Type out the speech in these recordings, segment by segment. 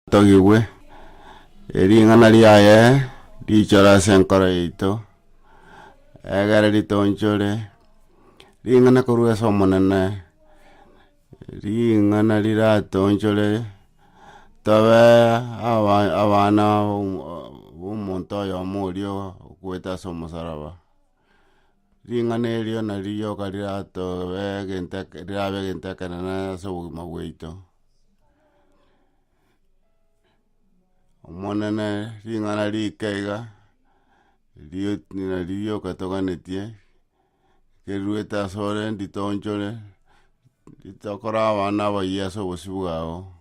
Togigwe, e ring'ana riaye richore ase enkoro yaito, egere ritoonchore, ring'ana korwa ase Omonene, ring'ana riratoonchore, tobe aba abana b'omonto oyomo oria okwete ase omosaraba. Ring'ana erio nario rioka riratobe egento eke rirabe egento ekenene ase obogima bwaito. Omonene ring'ana rike iga, erio nario rioka toganetie, riruete asore nditoonchore, ritokore abana abayio ase obosio bwao.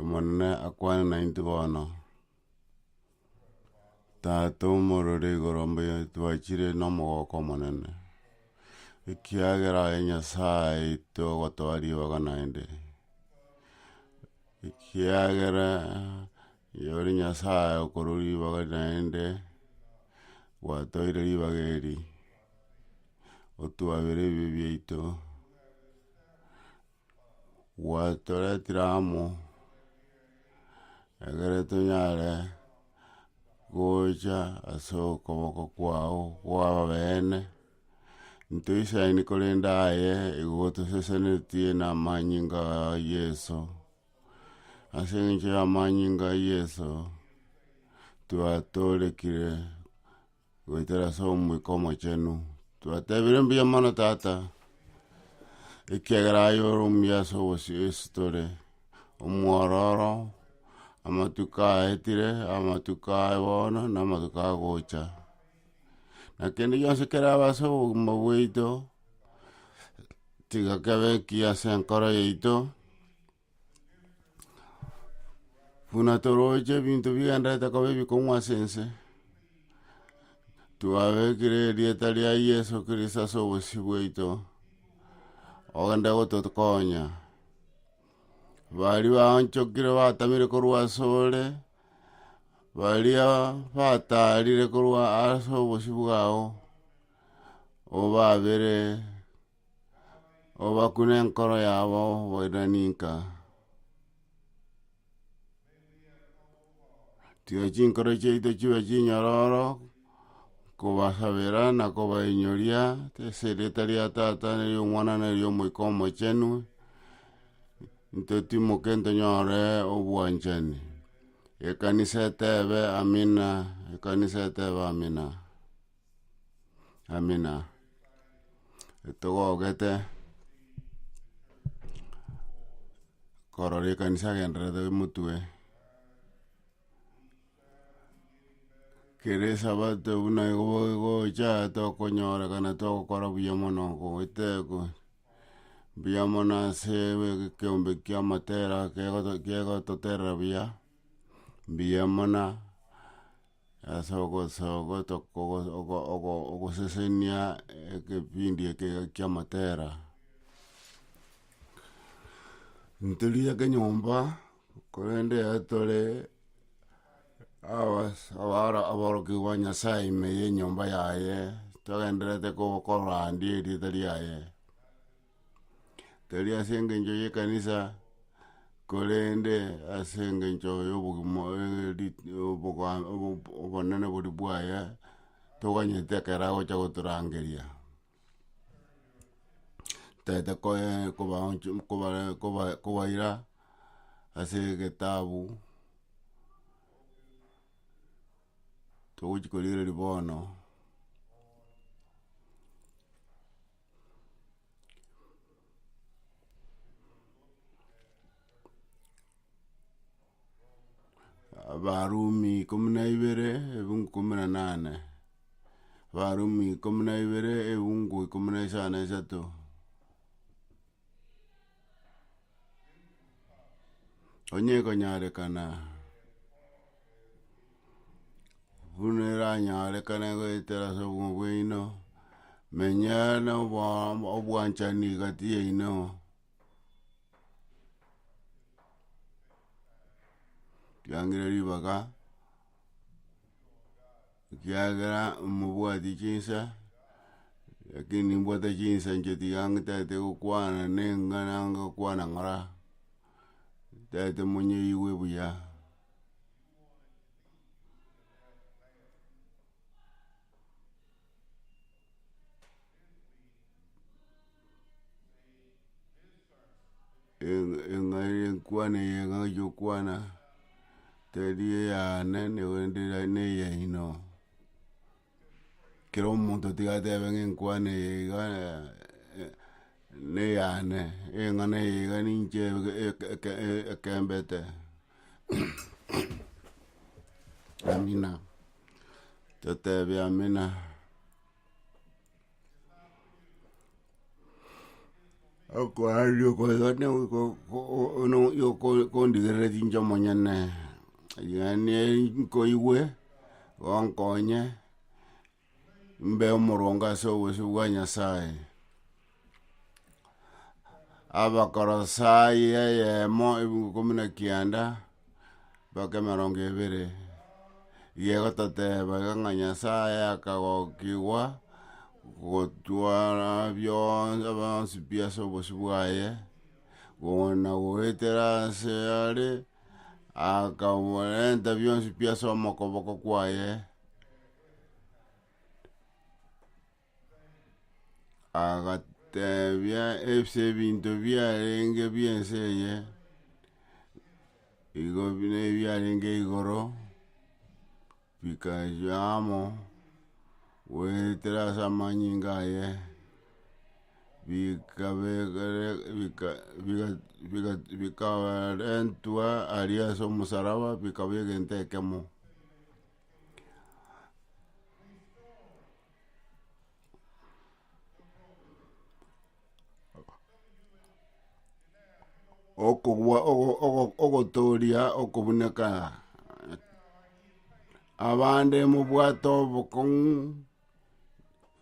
Omonene akwane naintwe bono, tata omorore igoro mbuya twachire na omogoko omonene, ekiagera aye nyasaye aito ogotoa ribaga naende, ekiagera. Eye ore Nyasae okorwa ribaga naende, gwatoeire ribaga eri, otwabere ebibe biaito, gwatoretire amo egere tonyare gocha ase okoboko kwao kwa ababene, ntoisaini korende aye igo gotosesenetie na amanyinga a Yeso. Ase engencho y'amanyinga a Yeso, twatoorekire goetera ase Omoika Omochenu, twatebire mbuya mono Tata, ekiagera aye ore omuya ase obosio ase tore, omwororo, amatuko aetire, amatuko aye bono, na amatuko agocha. na kende gionsi kerabe ase obogima bwaito, tiga kebe ekiya ase enkoro yaito, buna toroche ebinto bigendererete koba ebikong'u ase ense, twabekire erieta ria yeso kristo ase obosio bwaito, ogende gotokonya, baria baonchokire batamire korwa asore. Baria bataarire korwa ase obosio bwao, obaabere, obakune enkoro yabo boirani nka. Tiga chinkoro chiaito chibe chinyororo. nkobasabera na kobainyoria ase erieta ria Tata, na eri'Omwana, na eri'Omoika Omochenu, ntotimoke ntonyore obwanchani. Ekanisa etebe, Amina, ekanisa etebe, Amina, Amina, etogogete korora ekanisa egendererete emotwe. kera esabato buna igo bogocha tokonyorekana togokora buya mono goetekwa, mbuya mono ase be ekeombe kia matera kegoto kegototerera buya, mbuya mono ase ogosoa goto kogo ogo ogo ogosesenia ekepindi eke kia matera. Ntorigereria kenyomba. Korende ekero tore abas- abaro- aborokigwa ba Nyasae ime y'enyomba yaye, togendererete ko- korandia erieta riaye, tari ase engencho y'ekanisa, korende ase engencho y'obogima rit- oboga- obo- obonene boria bwaye, toganyete ekero agocha gotorangeria. Ntaete koe- kobaoncho kobare- koba- kobaira ase egetabu togochi korigereria bono Abarumi ikomi na ibere ebungo ikomi na nane, Abarumi ikomi na ibere ebungo ikomi na isano na isato, onye ekonyarekana buna eranyarekane goetera ase obogima bwaino, menya noboa- obwanchani egati yaino. Kiangire ribaga ekiagera omobwati chinsa lakini nimbwate chinsa inche tiga ntaete gokwana nenga nanga gokwana ng'ora ntaete monyeigwe buya e- eng'ai enkwane eye ng'achi okwana teri eyane naende ne eyaino, kera omonto tiga atebe ng'a enkwane eye iga ne eyane, eng'ana eye iga ninche eke- eke- ekembete. Amina, toteebe amina. Okorandia okoigo nigo ko- ko- ko- no- yo- ko- kondigerera chinche omonyene, yaani nkoigwe, gonkonye. mbe omorongo ase obosio bwa Nyasae. Abakorosai eyemo ebiungo ikomi na kianda, mpaka emerongo ebere, iga egototeba iga ng'a nyasae akagokigwa gotwara bionsi bionsi pi ase obosio bwaye, ona goetera ase are, akaborenta bionsi pi ase omokoboko kwaye. Agateebia ase ebinto biarenge bi'ense eye, igo bire ebiarenge igoro, bikaywa amo, goetera ase amanyinga aye, bikabe ekere bika biga biga bikaarentwa aria ase omosaraba bikaba egento ekemo. okogwa ogo- ogo- ogotooria okobuneka abande mobwate obokong'u.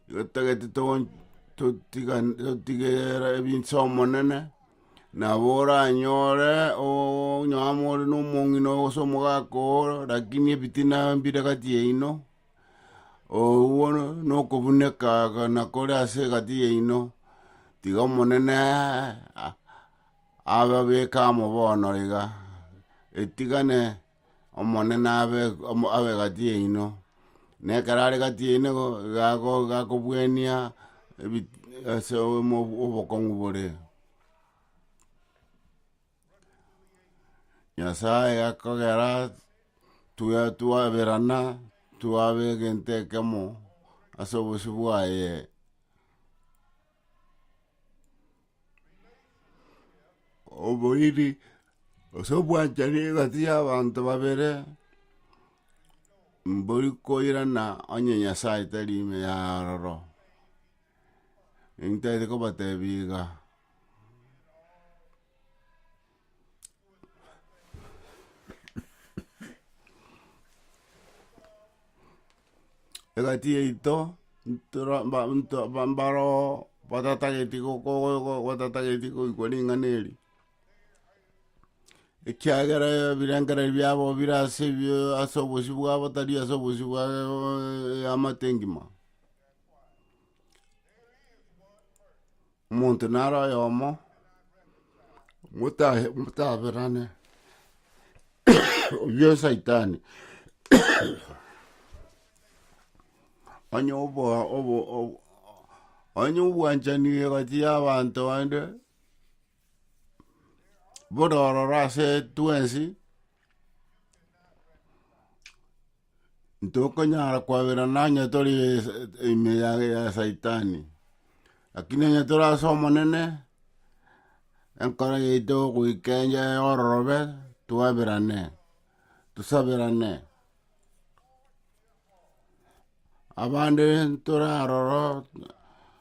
Igo totagete togon- totigan- totigereere ebinse Omonene, nabo oranyore oo- onye amo ore na omong'ina oo gose omogaka oo rakini ebitina mbire gati yaino, oo bono na okobuneka aga na kore ase egati yaino, tiga Omonene ababeke amo bono iga, etigane. Omonene abe omo- abe gati yaino, na ekero are gati yaino igo iga ago- iga akobuania ebi- ase omo- obokong'u bore. Nyasae akogera twe twaberana, twaba egento ekemo ase obosio bwaye. oboiri gose obwanchani egati y'abanto babere, mbori koirana onye Nyasae tari ime ya aroro, intagete kobatebi iga. egati yaito ntora mba- nto- mba- mbaro batatageti go- go- go- go- batatageti goikwa ring'ana eri ekiagera ebirengererio biabo bire ase ebio ase obosio bwabo tari ase obosio bwa eamate engima. Omonto nare oyomo, motahe, motaberane, oyio saitani, onye obo obo obo onye obwanchani egati ya abanto bande, bore ororo ase twensi. Ntokonyara kwaberana onye tore ime ya, ya saitani. Lakini onye tore ase Omonene, enkoro yaito yogoika encha ya ororobe, twaberane, tosaberane. Abande ntore aroro,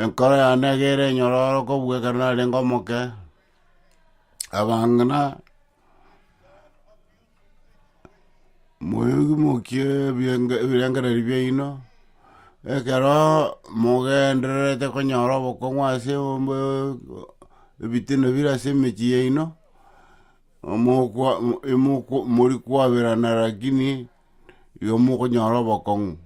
Enkoro yane egere enyororoku bwe ekero narenge omoke, abang'ina moimokie ebienge- ebirengererio biaino, ekero mogendererete konyora obokong'u ase ombe ebitina bire ase emechie yaino, omokwa imokwa mori kwaberana rakini igo mokonyora obokong'u.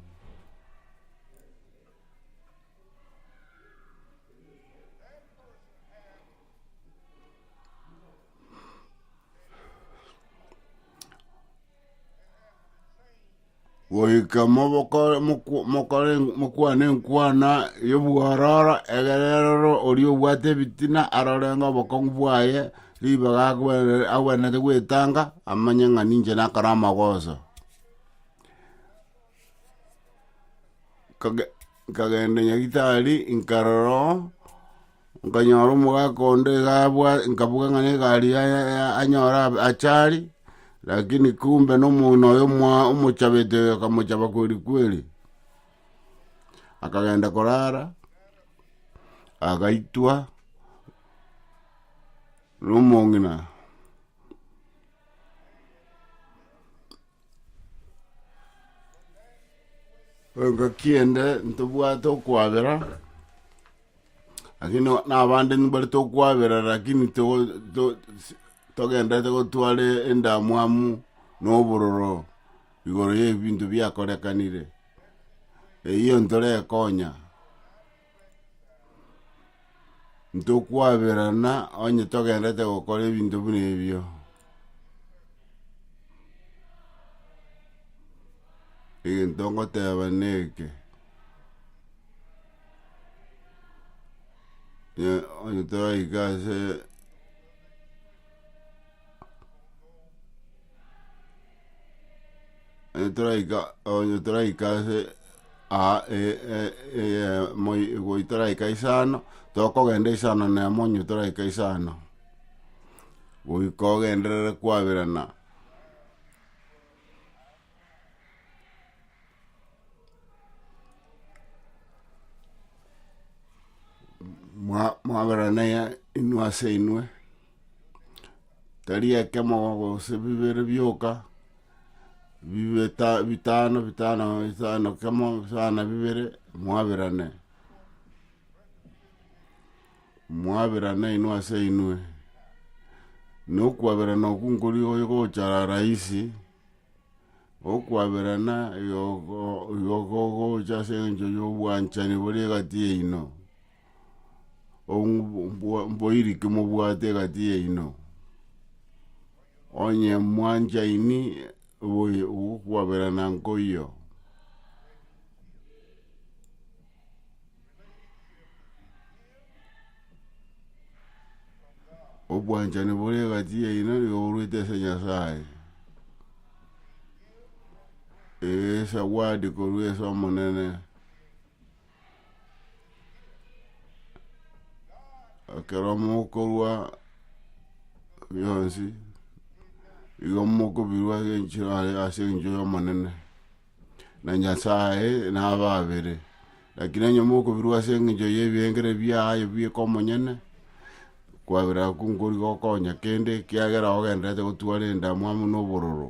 Goika moboko- mokw- mokore- mokwane enkwana y'obwororo, egere roro oria obwate ebitina arorenge obokong'u bwaye, ribaga agwene- agwenerete gwetanga, amanye ng'a ninche nakore amagoso. Nkage- nkagenda Nyagetari nkarora oo, nkanyora omogaka onde iga abwa nkaboka ng'a negari ya- ya- ya- anyore ab- ache are, lakini kumbe na omong'ina oye omoa- omochabete oyo akamochaba kweri kweri. Akagenda korara, agaitwa nomong'ina. Engaki ende ntobwate okwabera, lakini na abande nimbare tokwabera lakini togo to si- togenderete gotwara endamwamu na obororo igoro ya ebinto biakorekanire, eyio ntorekonya. ntokwaberana onye togendete gokora ebinto buna ebio. Egento ngoteba neke, onye toraika ase. eh, toraika onye toraika ase aa e- e- eye- moi- goi toraika isano tokogenda isano na emo onye toraika isano goika ogenderere kwaberana. mwa- mwaberana ya inwe ase inwe, tari ekemo gose bibere bioka, bibeta- bitano bitano bitano kemo bitano bibere, mwaberane. Mwaberane inwe ase inwe, na okwaberana okwo nkoria oyo gocha arara aisi. Okwaberana gokogocha ase engencho y'obwanchani bore egati yaino, mboiriki mobwate egati yaino, onye mwanchaini gokwaberana nkoiyo. obwanchani bore egati yaino yoruete ase Nyasaye, esawadi korwa ase Omonene, ekero mokorwa bionsi, igo mokobirwa ase enchera ase engencho y'Omonene. na Nyasae nababere. Lakini onye mokobirwa ase engencho y'ebiengere biaye bieka omonyene, kwabera agwo nkori gokonya kende, ekiagera ogendererete gotwara endamwamu na obororo.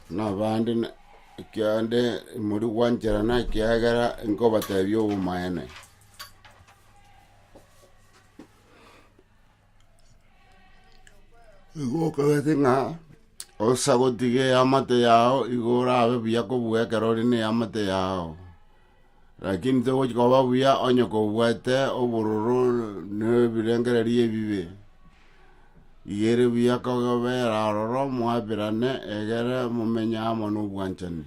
Buna abande na- ekiagende mori gwancherana ekiagera nkobatebia obomaene. Igo okagete ng'a osa gotiga eamate yao igo orabe buya kobua ekero ore na eamate yao, lakini togochi koba buya onye kobwate obororo na ebirengereri ebibe, iga ere buya kogobera aroro mwabirane egere momenye amo na obwanchani.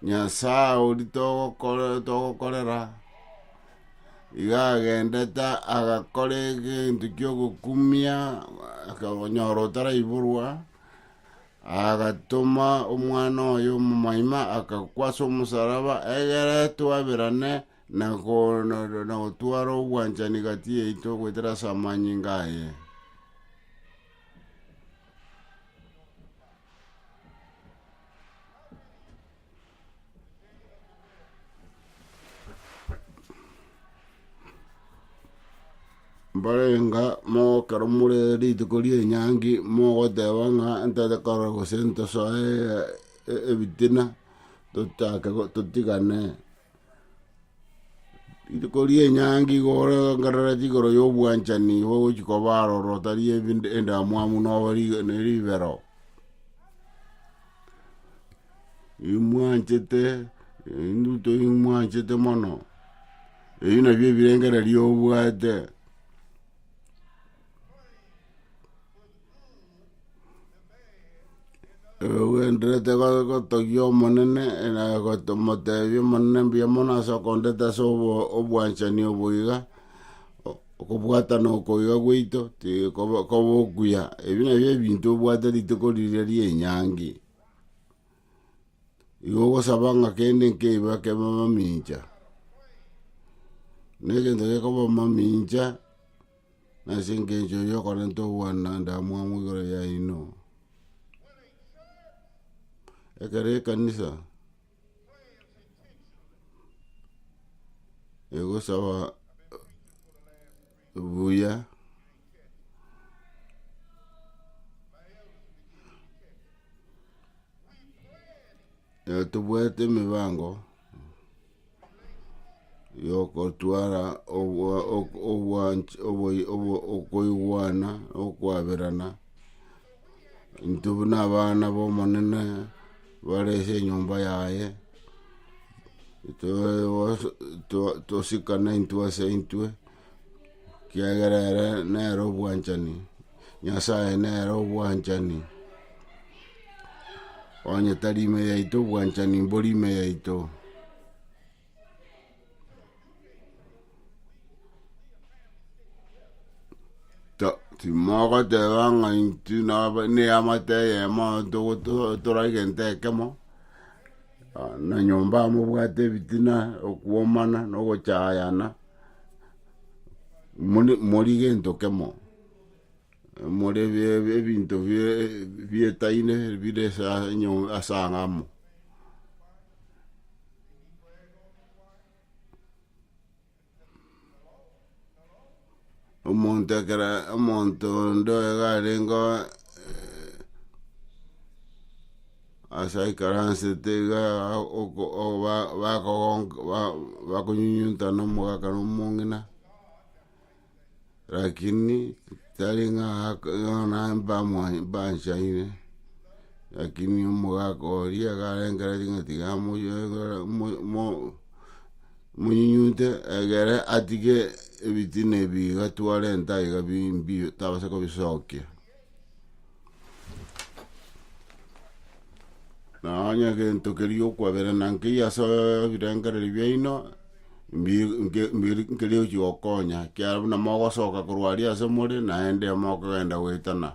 Nyasae ori togokore- togokorera, iga agendete agakora egento kiogokumia akanyora otaraiborwa, agatoma omwana oye omomoima akakwa ase omosaraba egere twaberane na go- na- na- nagotwara obwanchani gati yaito goetera ase amanyinga aye. mbarenga mogokera more rituko ria enyangi mogoteba ng'a ntete korora gose ntosoe e- e- ebitina tochake go- totigane. Rituko ria enyangi igoorengerera chigoro y'obwanchani bagochia koba aroro, tari ebi- endamwamu noba ri- ne ribero. Imwanchete induto imwanchete mono, ebi nabio ebirengererio obwate. Ogenderete go- gotogia Omonene na goto- motebia Omonene mbuya mono ase okondeta ase obo- obwanchani obo iga, o- okobwatana oko iga gwaito tige koba koba okuya, ebi nabio ebinto obwate rituko riria ria enyangi. Igo ogosaba ng'a kende nkeiba kebe mamincha, na egento gekoba mamincha. Na ase engencho eyio okorenta ogwana ndamwamu igoro yaino. Ekero ekanisa egosaba buya Ee tobwate emebango yogotwara obwa ok- obwanch oboyo obo okoigwana na okoaberana, intwe buna abana ba omonene bare ase enyomba yaye, etoe was to- tosikane intwe ase intwe, ekiagera ere nere obwanchani. Nyasae nere obwanchani, onye tari ime yaito obwanchani mbori ime yaito. Ta- timogoteba ng'a intwe naba neamate eyemo togoto- tora egento ekemo, ah, na nyomba amo obwate ebitina, okwomana, na ogochayana, mori- mori gento kemo. more bie- ebinto bie- bietaine bire ase enyo ase ang'e amo. Omonto ekero omonto onde iga arengo ase aikaransete iga oko- o- ba- bakogonk- ba- bakonyunyunta na omogaka na omong'ina. rakini tari ng'a ak- ng'ana mbamwa- mbanchaine, rakini omogaka oria garengera ring'ana tiga amoyoegera- mo- mo- monyunyunte egere atige ebitina ebi iga twarenta iga bi- mbiya tabasa kobisokia. Na onye egento keria okwaberana nkeiyo ase ebirengererio biaino, mbi- nke- mbiri- nkeria ochi gokonya, ekiagera buna mogosoka korwa aria ase more, naende mokogenda goetana,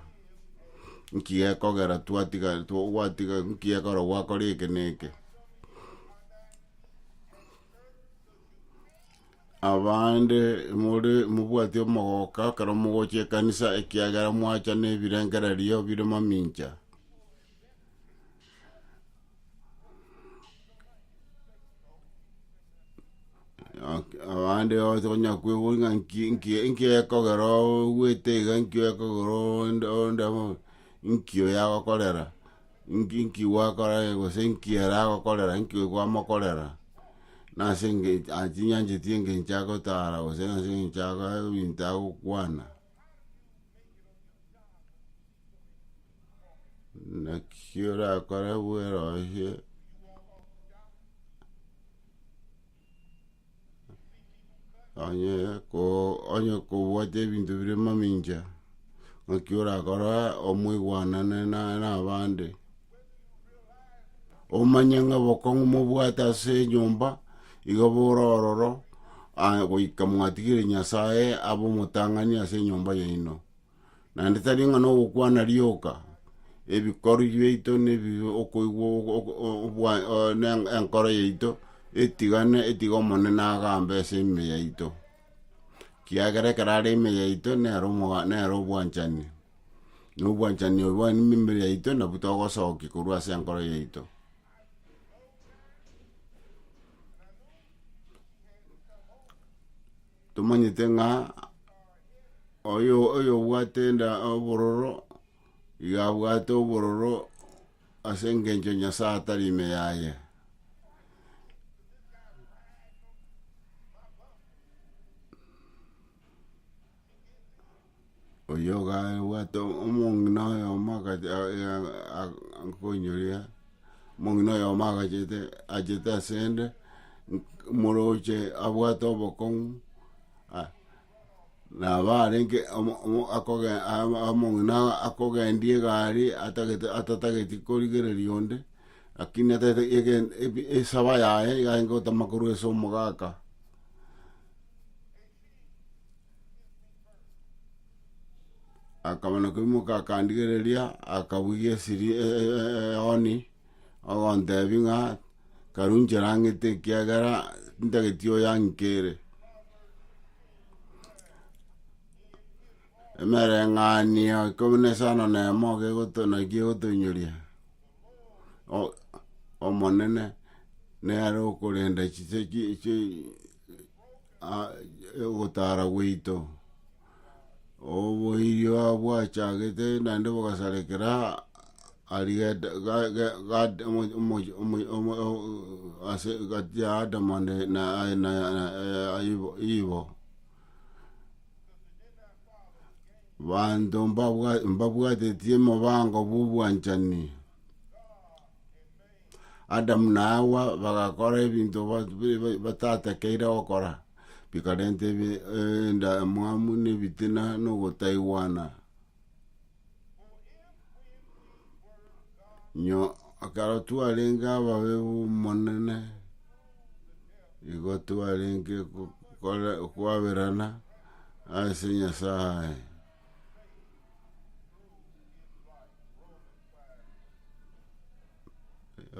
nki gekogera twatiga two- gwatiga nki gekorwa gwakora eke na eke. Abande more mobwati omogoka ekero mogocha ekanisa ekiagera mwacha ne ebirengererio bire mamincha. Abande ocha konya kwebori ng'a nki- nki- nki ekogera ogwete iga nki ekogera onde onde amo inkio yagokorera. Inki nkigwakorage, gose inki ere agokorera, inki oyo kwamokorera, nase engencho atinyancheti engencho agotara gose nase engencho ago ebinto agokwana. Naki orakore bweroisia. onye ko onye kobwate ebinto bire mamincha naki orakora omweguanane na nabande omanye ng'a obokong'u mobwate ase enyomba igo bore ororo aya goika mwatigire nyasaye abe omotang'ani ase enyomba yaino. naende tari ng'a nogokwana rioka, ebikori biaito na ebibe okoigwa o- o- o- obwa- o- ne enkoro yaito etigane etige Omonene agambe ase ime yaito, kiagera ekero are ime yaito nere omoga nere obwanchani, na obwanchani obo bwane na emebere yaito nabwo togosokia korwa ase enkoro yaito. Tomanyete ng'a oyo oyobwate enda obororo, iga abwate obororo ase engencho Nyasaye atari ime yaye. oyio gabwate omong'ina oyomo akacha akonyoria, omong'ina oyomo agachete achete asende, moroche abwate obokong'u, aya nabo arenge omo omo akoge ama omong'ina akogendia egari atagete atatageti korigereria onde, lakini atagete egen ebi esaba yaye iga aye gotama korwa ase omogaka. akaba nakoimoka akandigereria akabugia esiri e- e- e- eoni, ogontebi ng'a karu ncherang'ete ekiagera ntageti oyang'ike ere. Emereng'anio ikomi na isano na emo iga egoto naki egotoinyoria, o- omonene nere okorenda chise chi- chi- a- ogotara gwaito, oboiyo bwachagete naende bogasarekera aria geta ga- ga- gad- omo- omoyo- omoyo- omo- o- ase egati ya adamu ande na aye na Iv- ivo, banto mbabwa mbabwatetie mobango bwa obwanchani. Adamu na Hawa bagakora ebinto bat- bi- bi- batatakeire gokora, bikarenta ebi- e- endamwamu, na ebitina, na ogotaigwana. Nyo ekero twarenge ababe b'Omonene, nigo twarenge go- gokora okwaberana ase Nyasaye.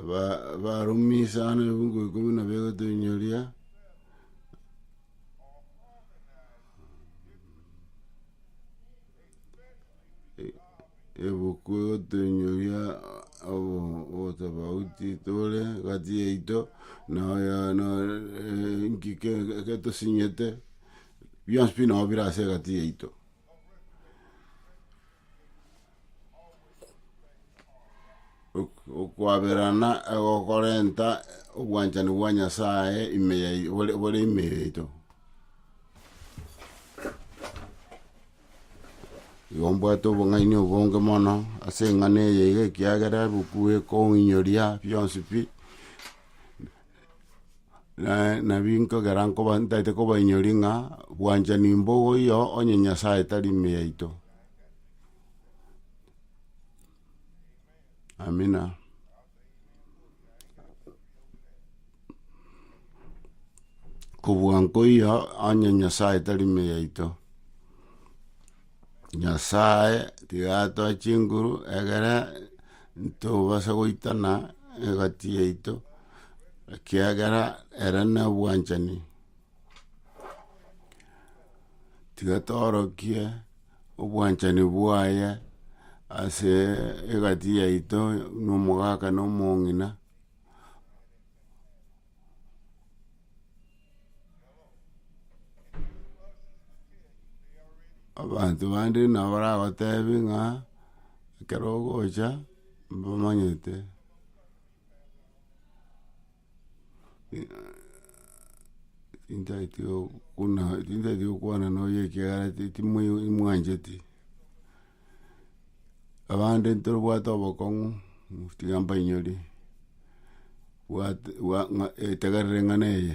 ba- barumi sana ebiungo ikomi na bibere toinyoria, e- ebuku igo toinyoria obo- obotobauti tore gati yaito na oyo na enki ke- ke- ketosinyete, bionsi pi nabo bire ase egati yaito. okwaberana egokorenta obwanchani bwa Nyasaye ime yai- bore- bore ime yaito. Igo mbwate obong'aini obonge mono ase eng'ana eye iga ekiagera ebuku ekoonyoria bionsi pi, Na- nabinto nkogera nkoba ntaete kobainyori ng'a bwanchani mbogo iyo onye Nyasaye tari ime yaito. Amina. Kobua nkoiyo onye Nyasaye tari ime yaito. Nyasae tigatoa chinguru egere ntobase goitana egati yaito, ekiagera ere nobwanchani. Tiga toorokie obwanchani bwaye ase egati yaito na omogaka na omong'ina. Abanto bande nabo baragotebe ng'a ekero ogocha mbamanyete tintagete buna tintagete gokwana noyo ekiagera ti- timwe- mwancheti. abande ntobwate obokong'u, tiga mbainyore, bwate- bwa- ng'a etegerere ng'a neye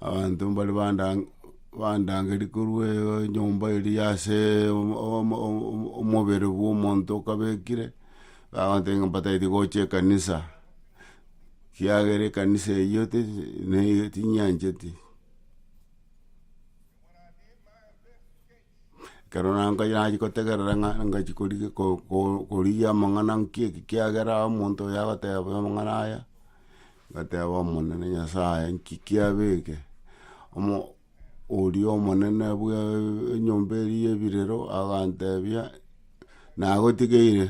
abanto mbare bandange bandangeria korwa enyomba eria ya ase omo- omo- omo- omobere bwa omonto okabekire, bagoteba ng'a mbataete gocha ekanisa. Kiagera ekanisa eyio neiga tinyancheti. Ekero nankonya nachi kotegerera ng'a ngachi korigia ko- ko korigia amang'ana nkie eki kiagera omonto oyo agoteba amang'ana aya, ngateba omonene nyasaye nki kiabeke omo. Oria omonene bw'enyomba eria y'ebirero aganteebia, Nagotigeire,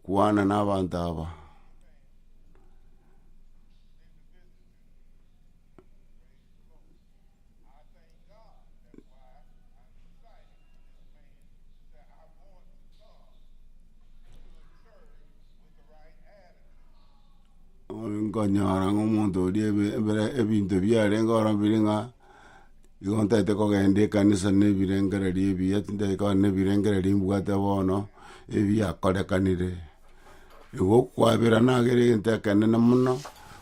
kwana n'abanto aba. Nkonyora ng'a omonto oria ebe ebere ebinto biarenge ororo bire ng'a, igo ntaete kogenda ekanisa na ebirengererio ebiya tindaete kogenda na ebirengererio mbwate bono, ebiakorekanire. Igo okwabera nagere egento ekenene mono,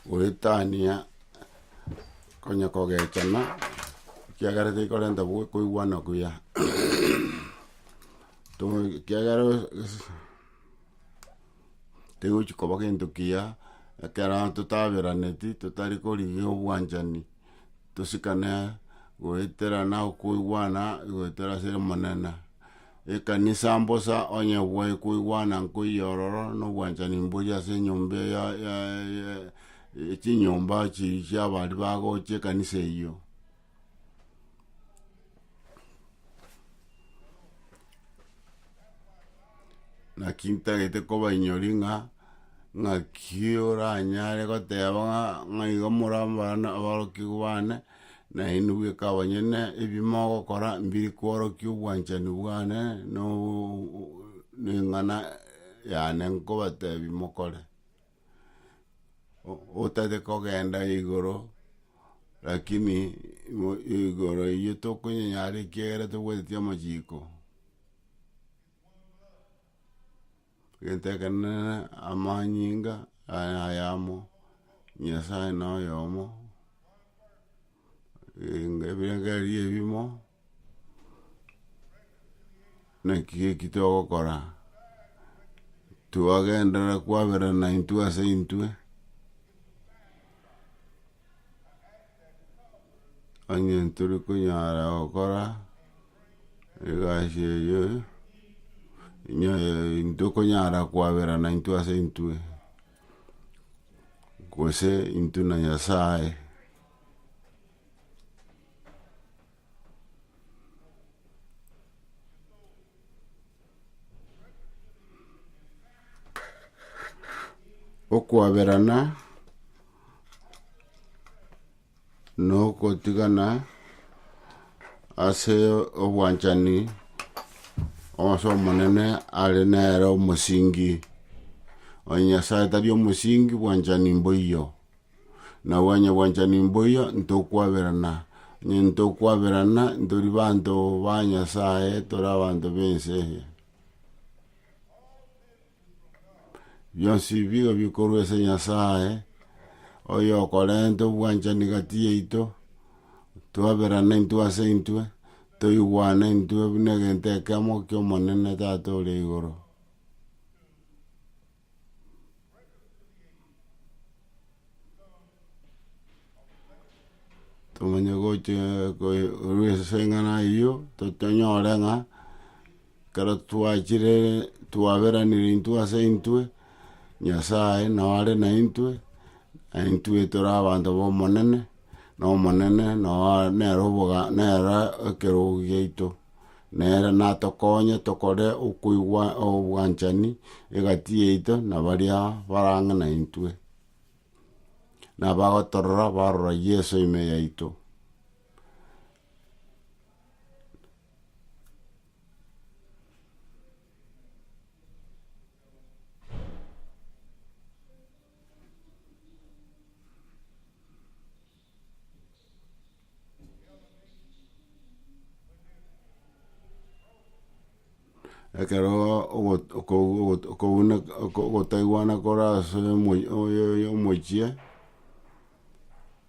goetania konya kogechana, ekiagera tekorenta bwo koigwana kuya to ekiagera. tegochi koba gento kiya, ekero totaberaneti, totari korigia obwanchani, tosikane goeterana okoigwana goetera ase omonene, ekanisa mbosa onye bwae koigwana nkoiyo ororo na obwanchani mbori ase enyomba ya ya ya chinyomba chi chiabari bagocha ekanisa eyio. Naki ntagete kobainyori ng'a ng'aki oranyare goteba ng'a ng'a igo more abana aborokigwa bane, nainwe bweka abanyene ebi mogokora mbiri kworokia obwanchani bwane na eng'ana yane nkobatebi mokore. otari kogenda igoro, lakini igo igoro eywo tokonyenyara ekiagera tobwateti amachiko. Egento ekenene amanyinga aya ayamo, Nyasaye noyomo. ebirengererio ebimo, naki eki togokora, twagenderera kwaberana intwe ase intwe, onye tori konyara gokora egasi eye, intwe konyara kwaberana intwe ase intwe. gose intwe na Nyasae. Okwaberana. nogotigana ase obwanchani onse omonene are nere omosingi, onye Nyasae tari omosingi bwanchani mboiyo, nabo onye bwanchani mboiyo ntokwaberana, onye ntokwaberana ntori banto ba Nyasae tore abanto b'ense eye. Bionsi bigo bikorwa ase Nyasae, oyokorenta obwanchani gati yaito, twaberana intwe ase intwe, toigwana intwe buna egento ekemo ki'Omonene Tata ore igoro. Tomanye gochia korwa ase eng'ana eyio, tonyore ng'a. Ekero twachire twaberanire intwe ase intwe, Nyasae nao are naintwe, na intwe tore abanto b'Omonene, na Omonene nao a- nere oboga nere ekerogo giaito. Nere natokonye tokore okoigwa obwanchani egati yaito na baria bara ang'e naintwe. Nabagotorora barora Yeso ime yaito. Ekero ogo- okobu ogo- okobuna okotaigwana kore ase omo- oyo- oyo- omochie.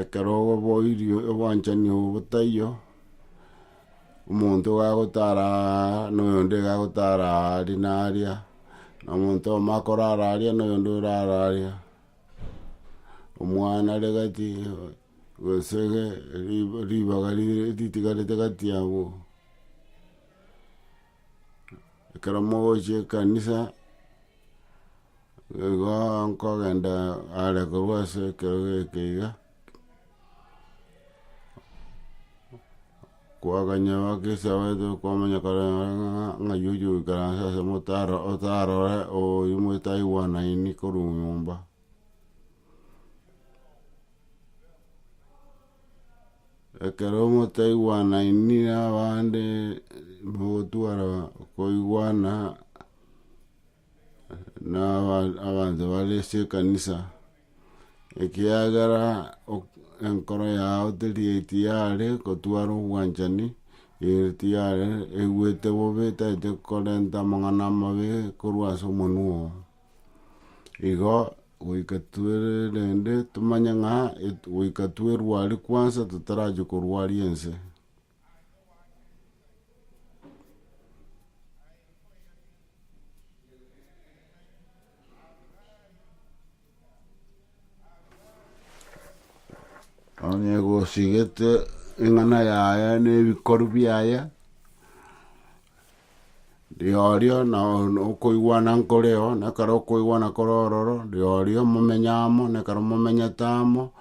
Ekero oboirie obwanchani obo botaiyo, omonto iga agotara aaaa na oyonde iga agotara aaaa aria na aria, na omonto oyomo akorara aria na oyonde orara aria, omwana are gati, gose ge riba ribaga rire ritigarete gati yabo. Ekero mogochia ekanisa. Igo nkogenda are korwa ase ekerogo eke iga, koaganya abakristo abaito kwamanyakana ng'ai ochi goikaransa ase omotaro otarore oyu motaigwanaini korwa nyomba. Ekero motaigwanaini na abande mogotwara koigwana. na aba- abanto bare ase ekanisa, ekiagera ok- enkoro yao teri tiyare gotwara obwanchani, ere tiyare eigwete bobe tagete korenta amang'ana amabe korwa ase omonwa oo. Igo goika twere rende tomanye ng'a et- goika twerwari kwansa totarachia korwaria ense. Onye egosigete eng'ana yaye na ebikoru biaye Rirorio nokoigwana nkoreo, nekero okoigwana kore ororo, rirorio momenye amo, nekero momenyete amo,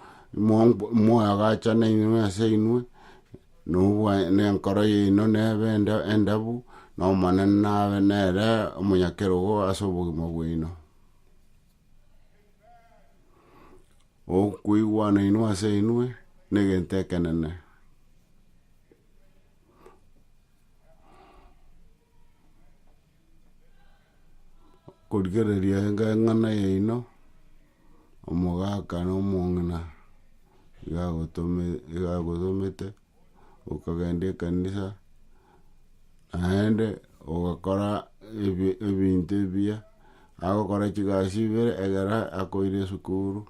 moagachane inwe ase inwe, nobwa na enkoro yaino nebe enda endabu, na Omonene nabe nere omonyakerogo ase obogima bwaino. Okoigwana inwe ase inwe, na egento ekenene. Okorigereria enga eng'ana yaino, omogaka na omong'ina iga agotome iga agotomete, okagenda ekanisa naende ogokora ebi ebinto ebiya, agokora chigasi ibere egere akoire esukuru,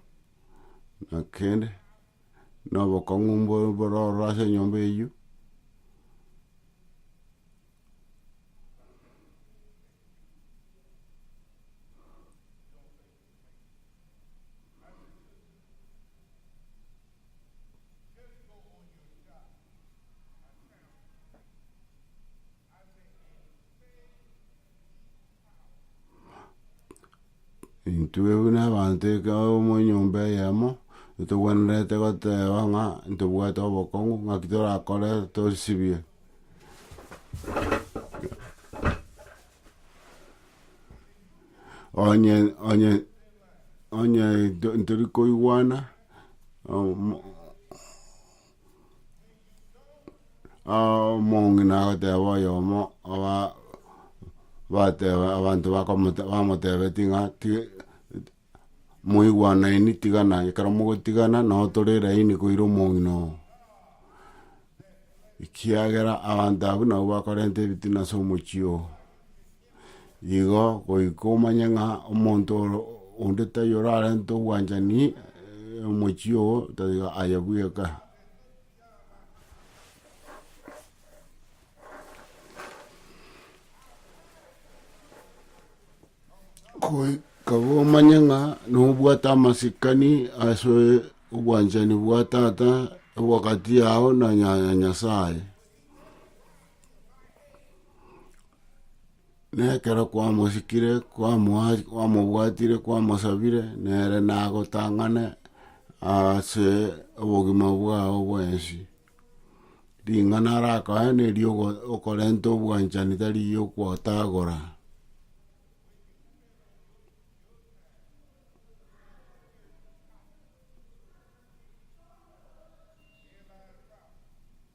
na kende. nobokong'u mbo- bororo ase enyomba eyio, Intwe buna abanto ekero amo enyomba eyemo, totogwenerete goteba ng'a ntobwate obokong'u ng'aki torakore tosibie. onye onye onye nto- ntori koigwana. omong'ina agoteeba oyomo oba bateba abanto bakomoteba bamotebetie ng'a tiga moigwanaini tigana ekero mogotigana nabo tore elaini koira omong'ina oo. Ekiagera abanto abwo nabwo bakorenta ebitina ase omochie oo. Igo goika omanye ng'a omonto ore onde taiyo orarente obwanchani omochie oo tiga aye bweka. Goi- kaba omanye ng'a nobwate amasikani ase obwanchani bwa tata obwagati yao na nya- nyasaye. na ekero kwamosikire, kwamoa- kwamobwatire, kwamosabire, nere nagotang'ane aase obogima bwao bwensi. Ring'ana arakoe nerio ogo- okorenta obwanchani tari riokotagora.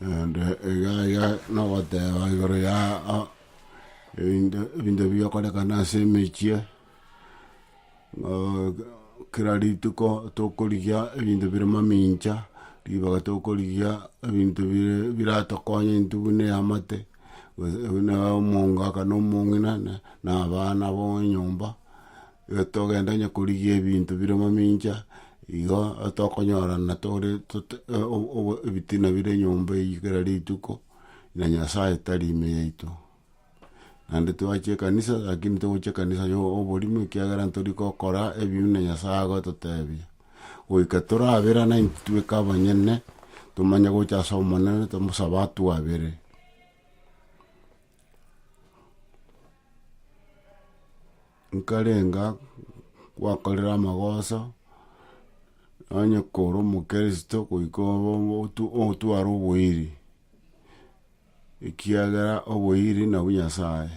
Naende egaya nogoteba igoro ya a- ebinto ebinto bigokorekana ase emechie, ng'a kera rituko tokorigia ebinto bire mamincha, ribaga tokorigia ebinto bire biratokonye intwe buna eamate, gose buna omongaka na omong'ina na na abana ba enyomba. Togenda onye korigia ebinto bire mamincha, igo tokonyorana tore ebitina bire nyomba eyio kera rituko, na Nyasaye tari ime yaito. Naende twachia ekanisa lakini togochia ekanisa ya oborimo ekiagera ntori gokora ebibe buna Nyasaye agototebia. Goika toraberane intwe tweka abanyene, tomanye gocha ase Omonene tomosabe atwabere. nkarenga kwakorera amagoso, onye koro omokristo goika obo otu otware oboiri, ekiagera oboiri nabwo Nyasaye.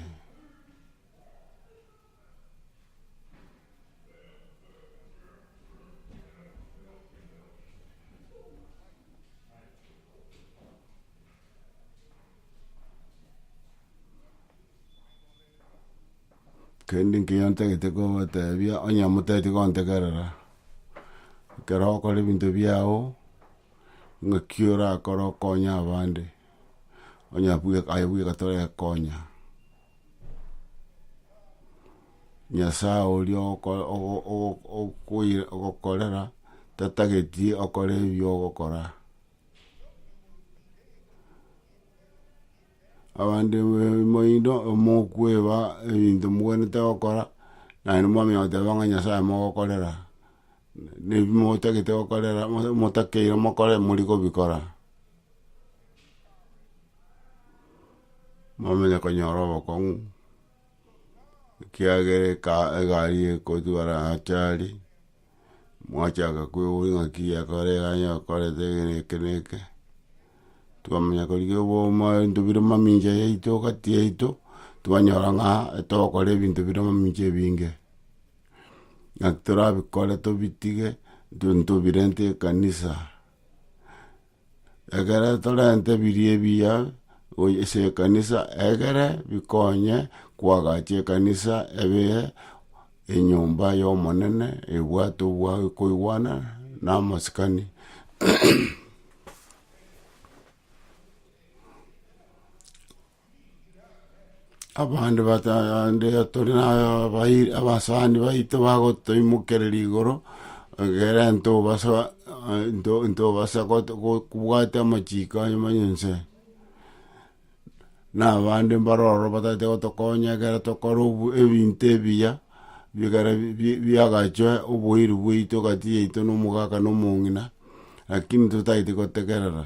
Kende nkeiyo ntagete kobatebia, onye motageti gontegerera, ekero okora ebinto biao, ng'aki orakore okonye abande, onye bwe aye bweka torekonya. Nyasaye oria oko ogo ogo okoi ogokorera, tatageti okore ebi ogokora. Abanto moino mokweba ebinto mobwenerete gokora, naende mwamenya goteba ng'a Nyasaye mogokorera, na ebi motagete gokorera mosa motakeire mokore mori kobikora. Mwamanya konyora obokong'u, ekiagera eka egari egotwara achari, mwachaka kwegurania ng'aki yakore iga yakorete eke na eke na eke, twamanya korigia oboma ebinto bire mamincha yaito gati yaito, twanyora ng'a togokora ebinto bire mamincha ebinge. Ng'aki torabikore tobitige, nto- ntobirente ekanisa. Ekero torente ebiria ebiya goy- ase ekanisa, egere bikonye koagacha ekanisa ebe enyomba y'omonene ebwate obwa- okoigwana na amasikani. abande bata ande tore na abairi abasani baito bagotoimokereria igoro, egere ntobasa nto ntobasa goto go- kobwata amachiko aya manya inse. Na abande mbaro oro batagete gotokonya ekero tokora obu ebinto ebiya, bigare bi- bi- biagachwe oboiri bwaito gati yaito na omogaka na omong'ina, lakini totagete gotegerera.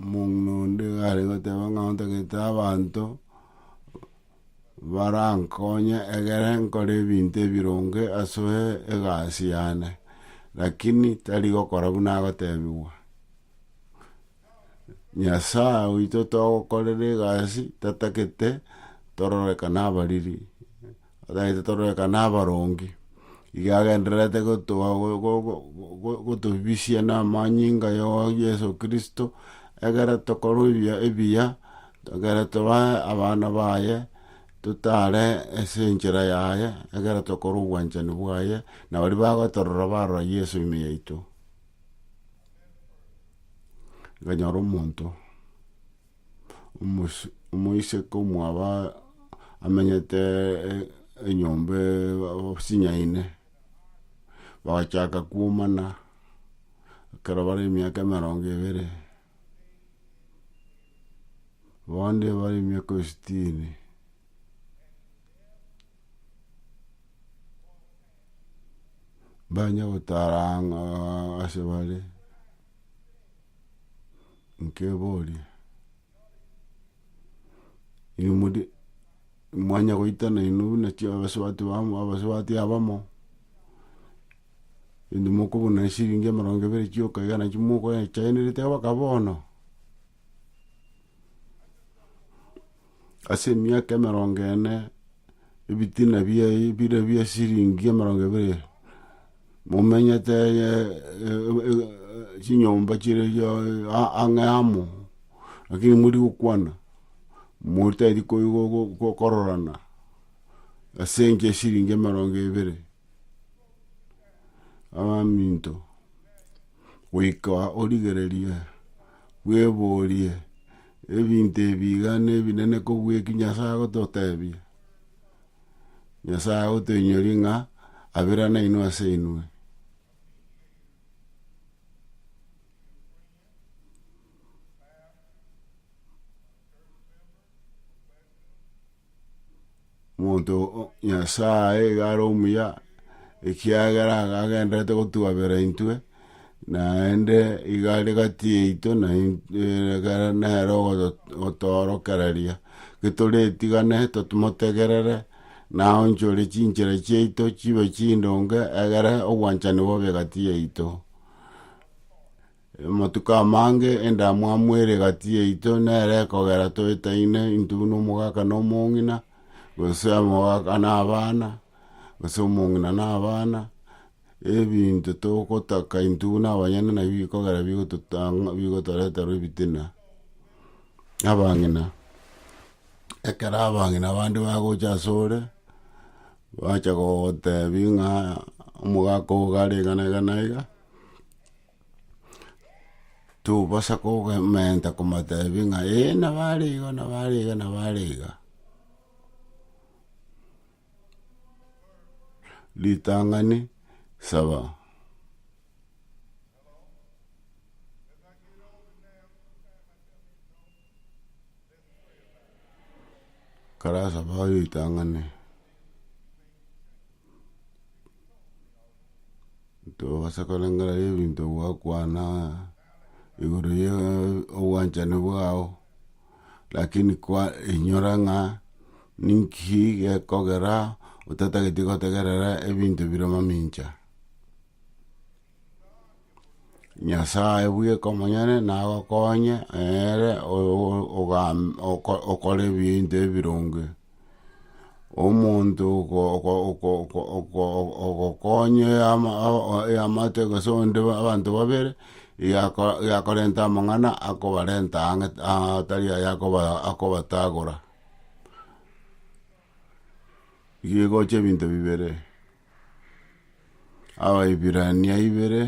Omong'ina onde iga are goteba ng'a ontagete abanto, barankonye egere nkore ebinto ebironge asoe egasi yane, rakini tari gokora buna agotebigwa. Nyasae oito togokorera egasi tatagete tororekane abariri. Otagete tororekane abaronge. Iga agendererete gotoa gotobisia namanyinga ya Yeso Kristo, egere tokore ebiya ebiya, egere tobe abana baye, totare ase enchera yaye, egere tokore obwanchani bwaye, na baria bagotorora barora Yeso ime yaito. Ekonyora omonto. omoiseke omwabo amenyete enyomba chinyaine, bagachaka kuomana ekero bare emiaka emerongo ebere, bonde bare emiaka esitini. Banye gotara ang'aa asebare. nkeboria, inwe mori mwanya goitana inwe buna chiabasubati bamo abasubati abamo, indi mokobuna esiringi emerongo ebere chioka iga nachio mokoechanereria mpaka bono. Ase emiaka emerongo ene ebitina biaye bire bie siringi emerongo ebere, momenyete chinyomba chire ang'e amo, lakini mori gokwana, motari kororana ase enka esiringi emerongo ebere, abaminto goika origereria bweborie Ebinto ebi iga nebinene kobua eki Nyasae agototebia, Nyasae agotoinyoria ng'a abera nainwe ase inwe. Omonto o Nyasae iga are omuya, ekiagera agagendererete gotwabera intwe, naende iga are gati yaito na ekero nere ogoto- otoorokereria. Getorietigane tomotegerere, na aonchore chinchera chiaito chibe chindonge, egere obwanchani bobe gati yaito. Amatuko amange endamwamu ere egati yaito nere ekogera toetaine intwe buna omogaka na omong'ina, gose omogaka na abana, gose omong'ina na abana, ebinto togotaka intwe buna abanyene nabio bikogera bigototanga bigotoretera ebitina. Abang'ina, ekero abang'ina bande bagocha asore, bacha gogotebi ng'a omogaka ogo gare iga na iga na iga. tobasa kogementa komoteebia ng'a ee nabo are iga nabo are iga nabo are iga. Ritang'ani saba. Karasaba oyoitang'ane, tobasa korengera ebinto gwakwana igoro ya obwanchani bwao, lakini kwa inyora ng'a ninki gekogera otatagete gotegerera ebinto bire mamincha. Nyasae bweka omonyene nagokonye, ere o- ogam- oko- okora ebinto ebironge. Omonto oko- oko- oko- oko- oko- o- ogokonya ama a- a- eamate gose onde ba abanto babere, yako yakorenta amang'ana akobarenta ang'e atari aya akoba akobatagora. Igo egocha ebinto bibere. Abaibirania ibere,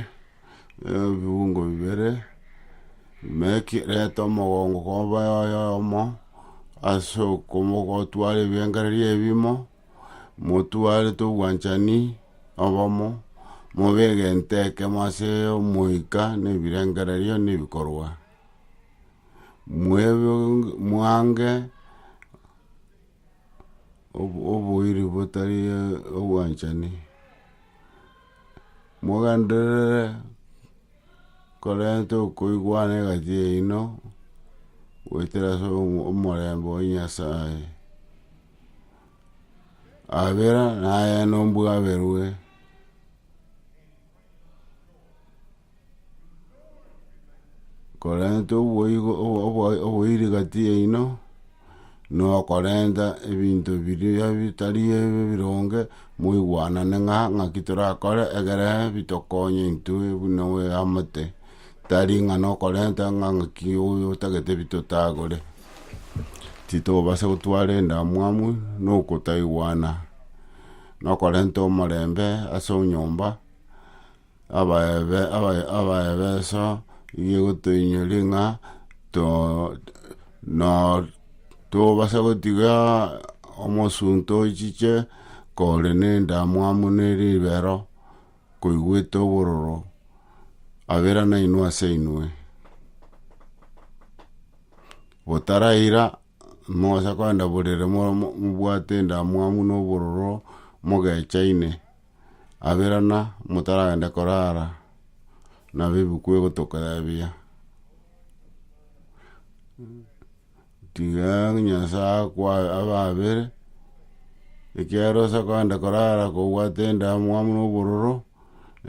ebiungo bibere, meki reta omogongo koba oye oyomo, ase okomo gotware ebirengererio ebimo, motware tobwanchani obomo, mobe egento ekemo ase omoika na ebirengererio na ebikorwa. Mwebu mwange. oboiri botari obwanchani, mogenderere korenta okoigwana egati yaino, goetera ase omorembe o nyasaye, abera naye nobwaberwe. korenta oboigo obo- obo- oboiri gati yaino, na okorenta ebinto biria bitari ebi bironge, moigwanane ng'a ng'aki torakore egere bitokonye intwe buna oeamate, tari ng'a nokorenta ng'a ng'aki oyo otagete bitotagore. Titobasa gotwara endamwamu na okotaigwana. nokorenta omorembe ase onyomba, abaebe abae abaebeso nigo egotoinyoria ng'a to no tobasa gotiga omosunte ochiche kore na endamwamu na eribero, koigwete obororo abera nainwe ase inwe. Botaraira Mosa kogenda borere mobwate endamwamu na obororo mogechaine, abirana motaragende korara, nabo ebuku egotorebia. Tiga Nyasaye akwa abe abere, ekiagera ase kogenda korara kobwate endamwamu na obororo,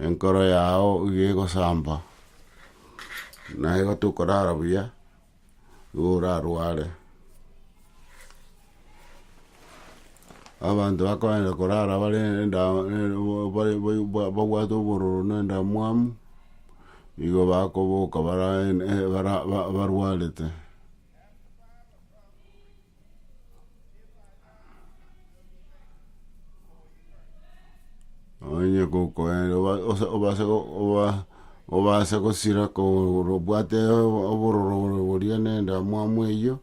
enkoro yao iga egosamba, naye igo tokorara buya, orarware. Abanto bakoenda korara bare enda bare ba- babwate obororo na endamwamu, igo bakoboka bara en- e- bara ba- barwarete. Onye gokoenda oba- osa- obase go- oba- obase gosira kogoro obwate obo- obororo oro boria na endamwamu eywo,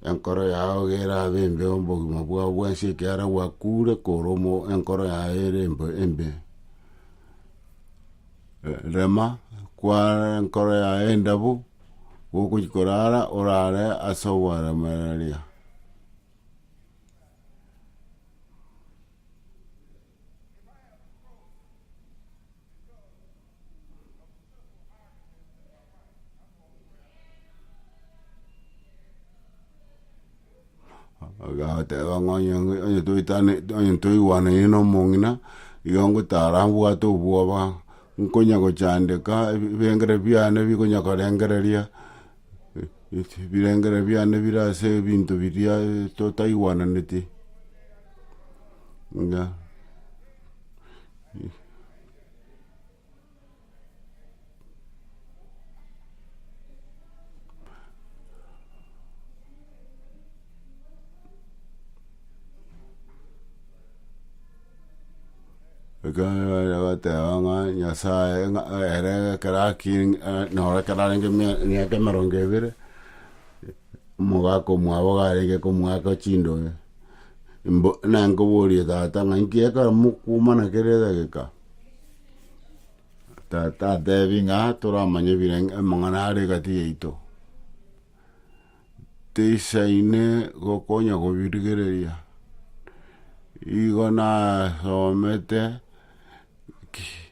enkoro yago gerabe embe obogima bwao bwensi ekiagera gwakure koromo enkoro yago ere embe embe. Rema, kware enkoro yaye endabu, gokochia korara orare ase ogwaremereria. Agateba ng'a onye onye toetane onye toigwanaine na omong'ina, igo ngotara mbwate obwoba, nkonya gochandeka ebi ebengera biane bikonya korengereria ebirengera biane bire ase ebinto biria totaigwananeti, mbuya. Ekero baria bateba ng'a nyasaye ng'a ere ekero aking a- noro ekero arenge mia miaka emerongo ebere, omogaka omwabo garenge komwaka chindoe, mbo- nenkoborie tata ng'a inki ekero mokuomana kera egeka. Tata atebi ng'a toramanye birenge amang'ana are egati yaito, tisaine gokonya kobirigereria, igo nasomete ki-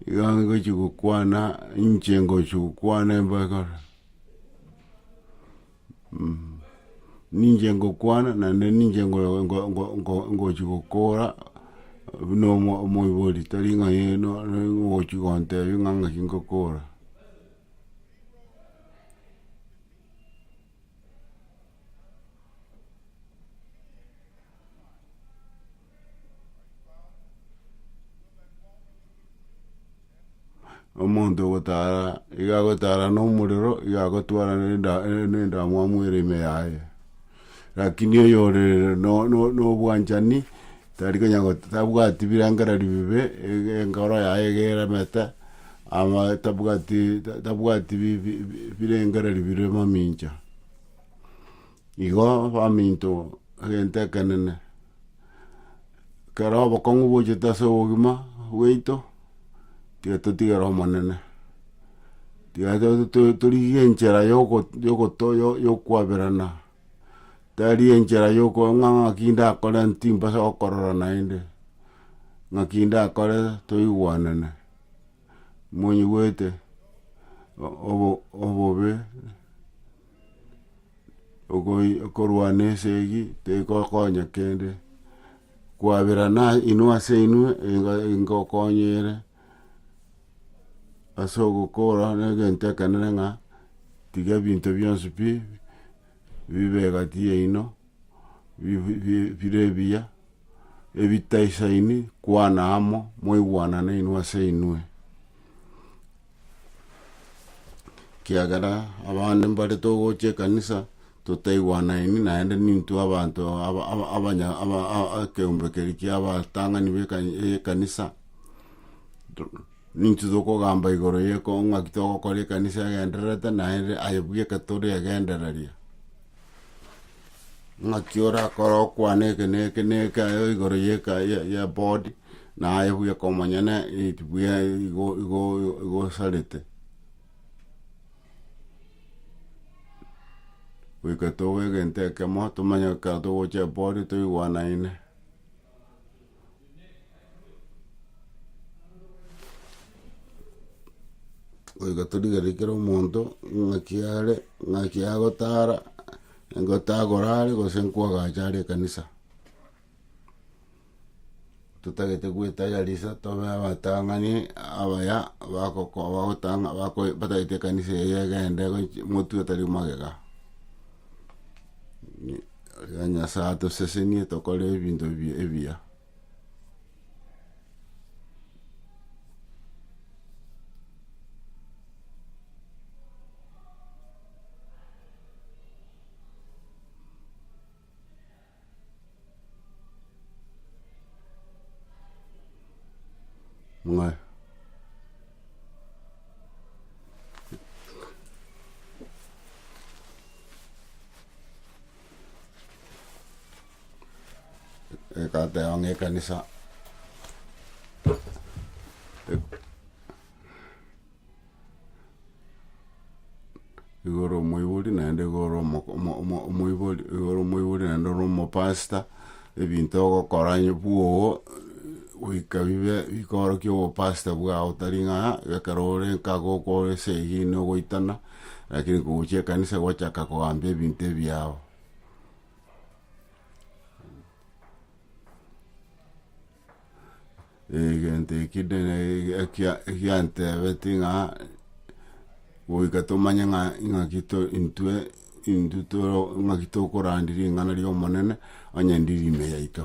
igo ngochi gokwana inche ngochi gokwana embakara. Ninche ngokwana naende ninche ngo- ngo- ngo- ngo- ngochi gokora buna omo- omoibori tari ng'a aye no ogochi gontebia ng'a ng'aki ngokora. Omonto ogotara iga agotara na omorero iga agotwara na enda- e- na endamwamu ere ime yaye, rakini oyo ore no- no- no obwanchani tari konya got tabwati birengererio bibe, ege enkoro yaye iga eremete, ama tabwati ta- tabwati bi- bi- birengererio bire mamincha. Igo baminto egento ekenene, ekero obokong'u bochete ase obogima bwaito, tiga totigere Omonene, tiga torigie enchera yokwaberana, tari enchera yokoba ng'a ng'aki ndakore timbasa gokorora naende, ng'aki ndakore toigwanane, monyigwete obo obobe. ogoi okorwana esegi tegokonya kende, kwaberana inwe ase inwe enga engokonya ere ase ogokora na egento ekenene ng'a tiga ebinto bionsi pi bibe egati yaino. bire ebiya, ebitaisaini, kwana amo, mwaigwanane inwe ase inwe. Ekiagera abande mbare togocha ekanisa totaigwanaini naende nintwe abanto aba- aba- abanya- aba- aba- ekeombe keria kia abatang'ani be ekani ekanisa, nintwe tokogamba igoro ye ko ng'aki togokora ekanisa egendererete naende aye bweka tore egendereria. Ng'aki orakore okwane eke na eke na eke aye igoro ye eka- ye- ye board, naye buya komonyene it buya igo igo igo osarete. Goika tobe egento ekemo, tomanye ekero togocha eboard toigwanaine. Goika torigereria kera omonto ng'aki are, ng'aki agotara, ng'aki agora are gose nkwagacha are ekanisa. Totagete gwetaiyarisha tobe abatang'ani abaya bagoko bagotanga bako batagete ekanisa eye egende gochi motwe otari magega. Rirorio Nyasae atosesenie tokore ebinto ebi- ebiya. Mwa- Egateba ng'a ekanisa nigo ore omoibori naende nigo ore omo- omo- omo- omoibori nigo ore omoibori naende ore omopasta, ebinto ogokora onye bwogo goika bibe bikorokia obopasta bwao tari ng'a ekero ore nkago okore ase eyio nogoitana. Lakini kogochia ekanisa gwachaka kogambia ebinto ebiao. Egento ekio ndene ekia- ekiantebeti ng'a goika tomanye ng'a ing'aki to intwe intwe toro ing'aki tokorandia ring'ana ria omonene, onye ndiri ime yaito.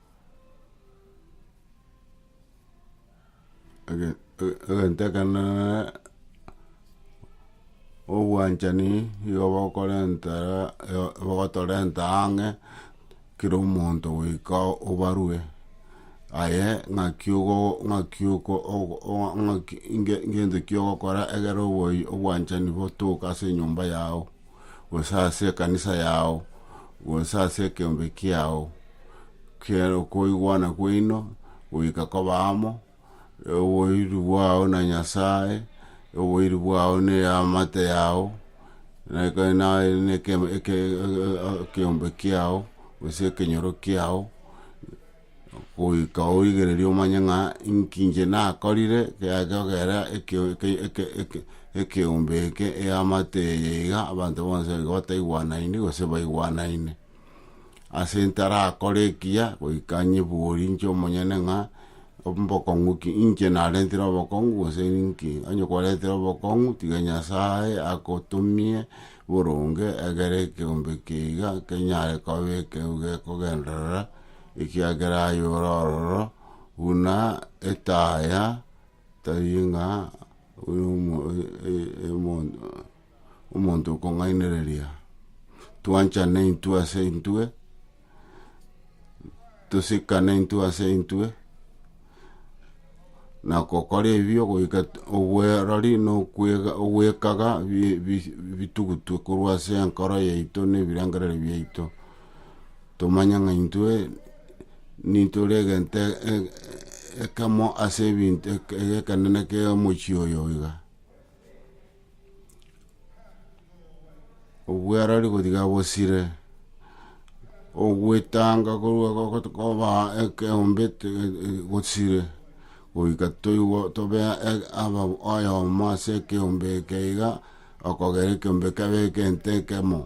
egento ekenene obwanchani nigo bokorenta bogotorenta ang'e kera omonto goika obarue aye ng'aki ogo ng'aki oko ng'aki ngento ki ogokora egere obwanchani botoke ase enyomba yago. gose ase ekanisa yao, gose ase ekeombe kiao, kiere okoigwana kwaino goika koba amo, oboiri bwao na Nyasae, oboiri bwao ne eamate yao, neke naye neke eke ekeombe kiao, gose ekenyoro kiao. Goika oirigererie omanye ng'a inki inche nakorire kiagekogera ekeo eke eke eke ekeombe eke eamate eye iga abanto bonsi nigo bataigwanaine gose baigwanaine. Ase ntarakore ekiya goika nyebori inche omonyene ng'a mbokong'u ki inche narentire obokong'u gose ninki, onye kwarentire obokong'u tiga Nyasaye agotomie boronge egere ekeombe eke iga kenyare koba ekero gekogenderera. ekiagera aye ore ororo buna etaya, tari ng'a omonto okong'ainereria. Twanchane intwe ase intwe, tosikane intwe ase intwe. na gokora ebibe goika obwerori na ogwekaga bitugutwe korwa ase enkoro yaito na ebirengerero biaito, tomanye ng'a intwe nintore egento ekemo ase ebinto egekenene kia omochie oyo iga. obwarari kotiga bosire, ogwetanga korwa gogotu koba ekeombe te- e- e- gosire, goika toigwe tobe e- ababo oyomo ase ekeombe eke iga, okogera ekeombe kebe egento ekemo.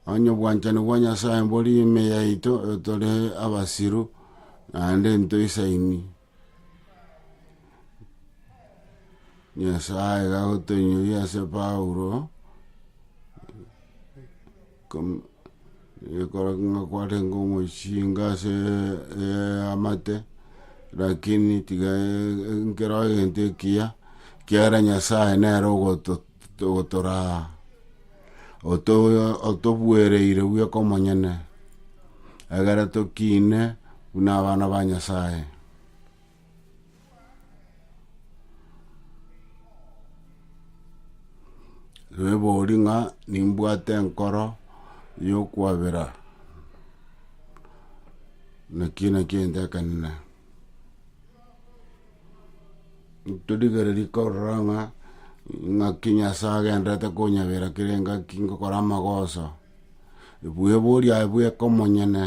Onye obwanchani bwa Nyasaye mbori ime yaito, tore abasiru, naende ntoisaini. Nyasae iga agotoinyoria ase Paulo, kom- ekero ng'a kwarenge omochienga ase eamate, rakini tiga e- e- nkero egento ekiya, ekiagera Nyasae nere ogoto- Togotoraa, otobuereire bweka omonyene, egere tokiine buna abana ba Nyasae. Nebori ng'a nimbwate enkoro yokwabera, naki nakio entekanine. Torigereria korora ng'a ng'aki Nyasae agenderete konyabera kere engaki ngokora amagoso, bwebori aye bweka omonyene,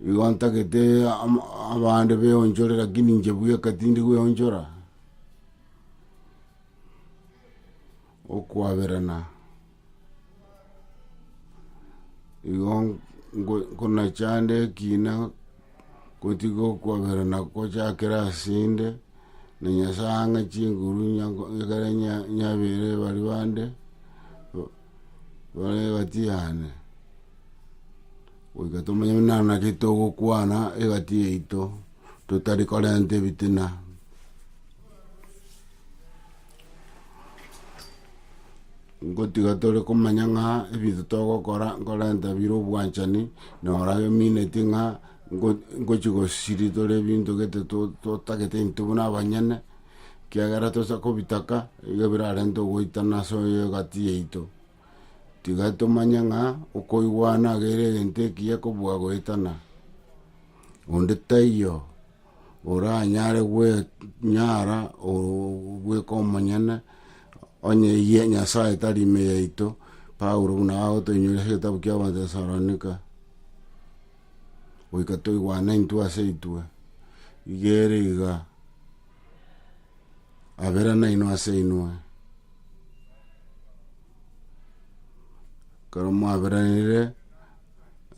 igo ntagete ama- abande beonchore lakini inche bweka tindi kweonchora. okwaberana, igo nkonachanda ekina gotiga okwaberana gochakera asende, na nyasae ang'e chinguru nyango- ekere nya- nyabere bare bande, ba- bare egati yane. Goika tomanye buna naki togokwana egati yaito, totari korenta ebitina. Ngotiga tore komanya ng'a ebinto togokora nkorenta bire obwanchani, na orabe omineti ng'a ngo- ngochi gosiri tore ebinto gete to- totagete intwe buna abanyene, ekiagera tosa kobitaka, igo birarente ogoitana ase egati yaito. Tiga tomanye ng'a okoigwana agere egento ekiya kobua goetana, onde taiyo. oranyare gwenyara ogweka omonyene, onye eyie Nyasae tari ime yaito, Paulo buna agotoinyoria ase egetabu kia Abatesalonika, goika toigwane intwe ase intwe, iga ere iga, abere nainwe ase inwe, ekero mwaberanire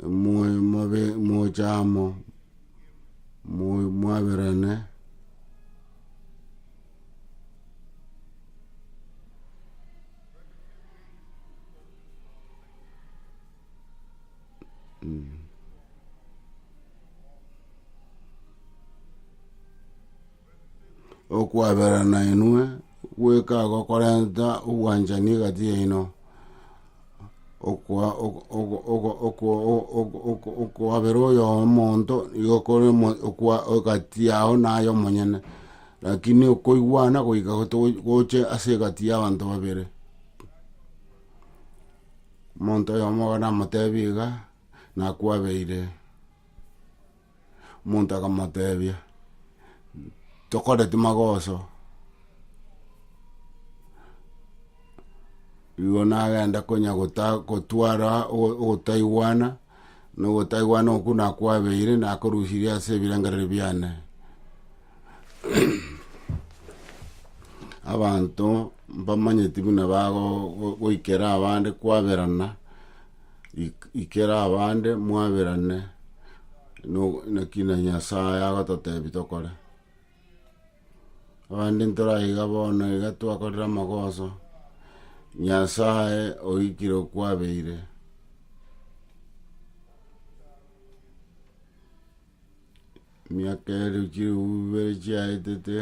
mobe mobe moche amo. mo- mwaberane okwaberana inwe, gweka gokorenta obwanchani egati yaino. Okwa- ok- ok- ok- okwa- ok- ok- ok- okwabera oyo omonto nigo okore omo- okwa- egati yao naye omonyene, lakini okoigwana goika goto goche ase egati ya abanto babere. Omonto oyomo bono namotebi iga, nakwabeire. Omonto akamotebia, Tokoreti magoso. Igo nagenda konya gota- gotwara ogo- ogotaigwana, na ogotaigwana okwo nakwabeire, nakorusirie ase ebirengereri biane. abanto mbamanyeti buna bagoikera abande kwaberana, ik- ikera abande mwaberane no- naki na Nyasaye agototebi tokore. Abande ntoraiga bono iga twakorire amagoso, Nyasaye oikire okwabeire. emiaka ere chilifu ibere chiaetete,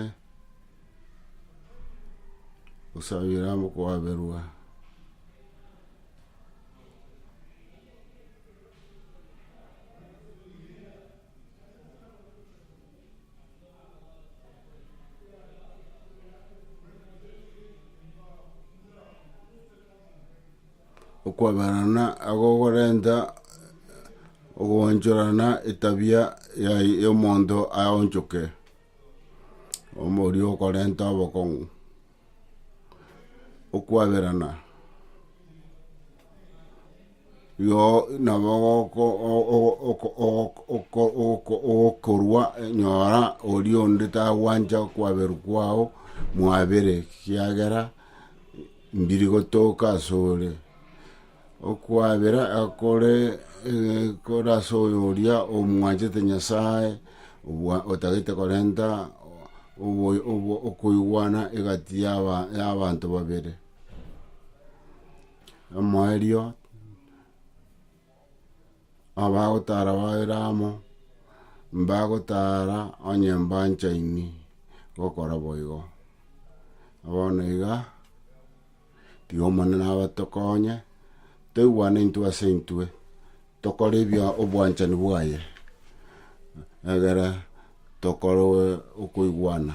gosabera amo koaberwa okwaberana agogorenta ogoonchorana etabia yaye y'omonto aonchoke, omo oria okorenta obokong'u. Okwaberana igo nabo ogoko o- o- oko- oko- oko- oko- ogokorwa nyora oria onde tagwancha okwaberu kwao mwabere ekiagera. Mbiri gotoka asore, okwabera kore kore ase oyo oria omwanchete Nyasae, obwa otagete korenta obo obo okoigwana egati yaba yabanto babere. Omoerio Abagotara babere amo, mbagotara onye mbanchaini gokora boigo. Bono iga, tiga Omonene abatokonye, toigwane intwe ase intwe, tokore ebia obwanchani bwaye, egere tokorwe okoigwana.